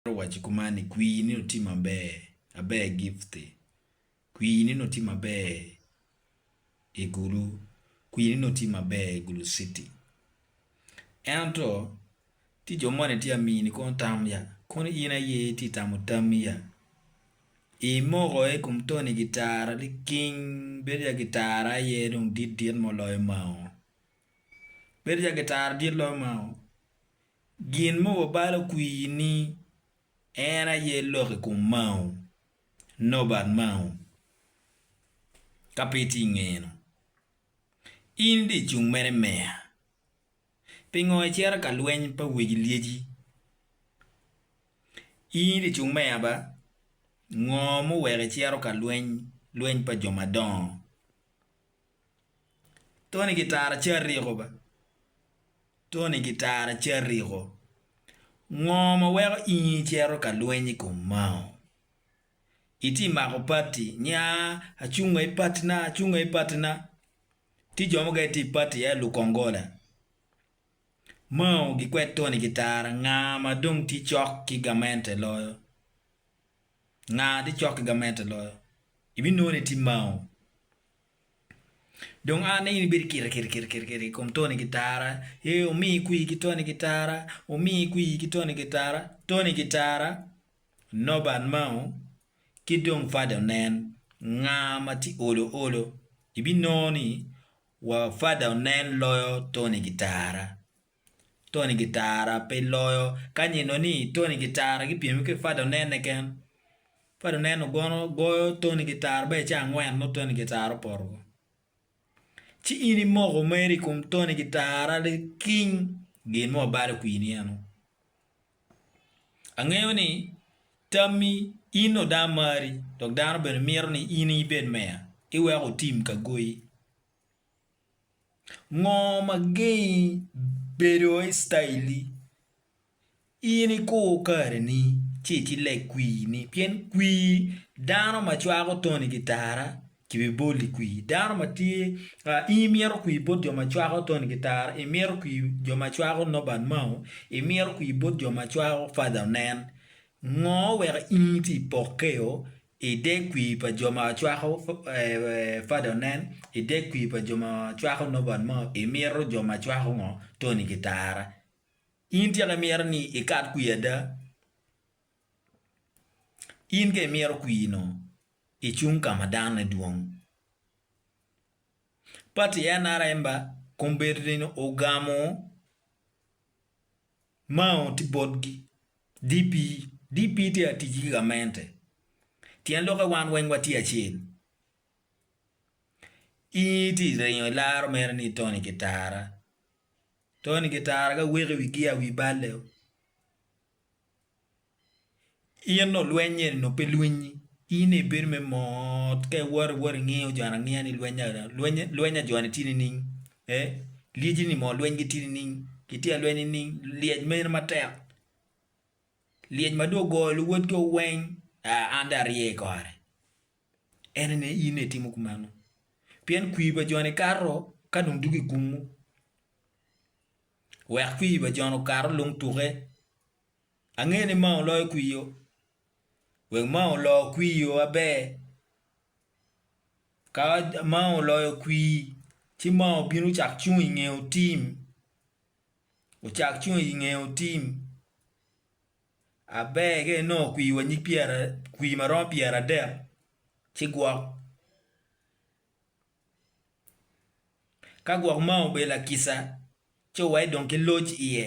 Atwero waco kuman ni, Kwir nino tye maber, aber gifte. Kwir nino tye maber i Gulu. Kwir nino tye maber i Gulu city. Ento tye jo moni tye amini kono tam ya, kono in aye itye tamo tammi ya. Imoko i kom Tony gitara liking, bedo ya gitara aye dong dit dit mo loyo mao. Bedo ya gitara dit loyo mao. Gin ma wabalo kwir ni en aye lok i kom Mao, Norbert Mao, ka pe itye ingeyeno, in dye cung mere meya. Pingo icito ka lweny pa weg lyeci? In dye cung meya ba? Ngo muweko icito ka lweny lweny pa jo madongo? Tony Gitara Cariko ba Tony Gitara Cariko, Ngo ma weko in icito ka lweny i kom Mao? Itye mako pati ni aa acunga i pati na acunga i pati na. Tye jo mukene tye i pati aye lukongola. Mao gikwed Tony Gitara nga ma dong tye cok ki gamente loyo? Nga tye cok ki gamente loyo? Ibinongo ni tye Mao. Dong an aye ibed kite kite kite kite kite i kom Tony Gitara, ee omiyi kwir ki Tony Gitara, omiyi kwir ki Tony Gitara, Tony Gitara, Norbert Mao ki dong Fada Onen nga ma tye olo olo ibinongo ni wa Fada Onen loyo Tony Gitara. Tony Gitara pe loyo ka nyeno ni Tony Gitara gipyeme ki Fada Onenne ken. Fada Onenne gono goyo Tony Gitara ba ice angwen nongo Tony Gitara opoto woko. Ci in imoko meri i kom Tony Gitara ni king gin mo balo kwini eno. Angeyo ni tammi in oda mari dok dano bene mito ni in ibed meya iweko otim ka goyi. Ngo ma gengi bedo Icraeli? In ikur kareni ci iti lek kwini pien kwi dano ma cwako toni ki tara kibibolo i kwi dano ma tye in imito kwi bot jo ma cwako toni ki tara imito kwi jo ma cwako Norbert Mao imito kwi bot jo ma cwako Father Onen. Ngo oweko in iti pokkeo? I dek kwir pa jo ma cwako fada onen, I dek kwir pa jo ma cwako Nobert mo, imito jo ma cwako ngo? Tony Kitara. In tika imito ni ikat kwir ada? In ka imito kwir no, icung ka ma danone dwong. Pati nrm ba kombeddi ni ogamo mao ti botgi DP, DP tye ka tic ki gamente. Tyen lokke wan weng watye acel. In itye ka ringo ilaro mere ni Tony Kitara. Tony Kitara ka weko iwi gia wi balle o. In nongo lweny eni nongo pe lwinyi. In nongo ibedo me mot ka iwoto iwoto ingiyo joni angiya ni lwenya lwenya joni tye nining. Pe, lyeci ni moo lweny gitye nining? Gitye alweny nining? Lyec mene matek? Lyec ma dong ogoyo luwotgi o weng? Aa, an dong arye i kore. En aye in ni itimo kumeno. Pien kwir pa joni kato ka dong dugo i kumwu. Wek kwir pa joni okato lung tuke. Angeyo ni mao loyo kwir-ro. Wek mao olo kwir-ro maber, Ka Mao oloyo kwir ci Mao obino ocako cung inge otim ocak cung inge otim aber ka inongo kwir wa nyig pyera kwir ma romo pyera adek ci gwok ka gwok Mao obedo lakica ci owaco dong ki loc iye.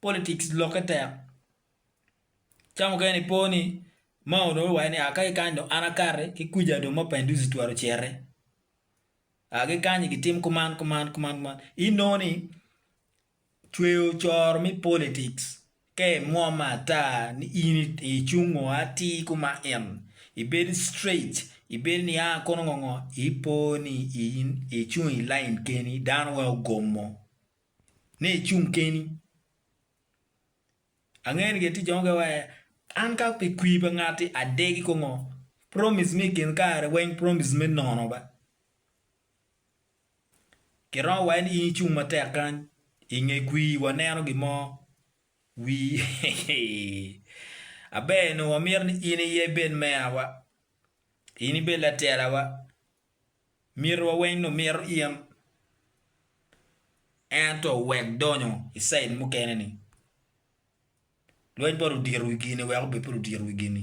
politics lokke tek. Ca mukene i po ni ma onongo iwaco ni aa kaki kany dong an akati ki kwica dong Mapinduzi twero cere. Aa ki kany gitim kuman kuman kuman kuman. Inongo ni cweyo coro me politics ka imwomme ata ni in icung ngo atir kuma en ibedo straight ibedo ni aa kono ngo ngo ipo ni in icung i lain keni dano weng ogomo. ni icung keni. Angeyo ni tye jo mukene waci ee an ka i kwir pa ngati adegi kongo promise me i kin kare weng promise me nono ba. Kiromo waci ni in icung matek kany i nge kwir waneno gin mo wii aber nongo wamito ni in iye ibed meya wa, in ibed latela wa, Myero weng omir in. Ento wek donyo i cid mukene ni, lweny bot odiro wi gini wek obed pe odiro wi gini.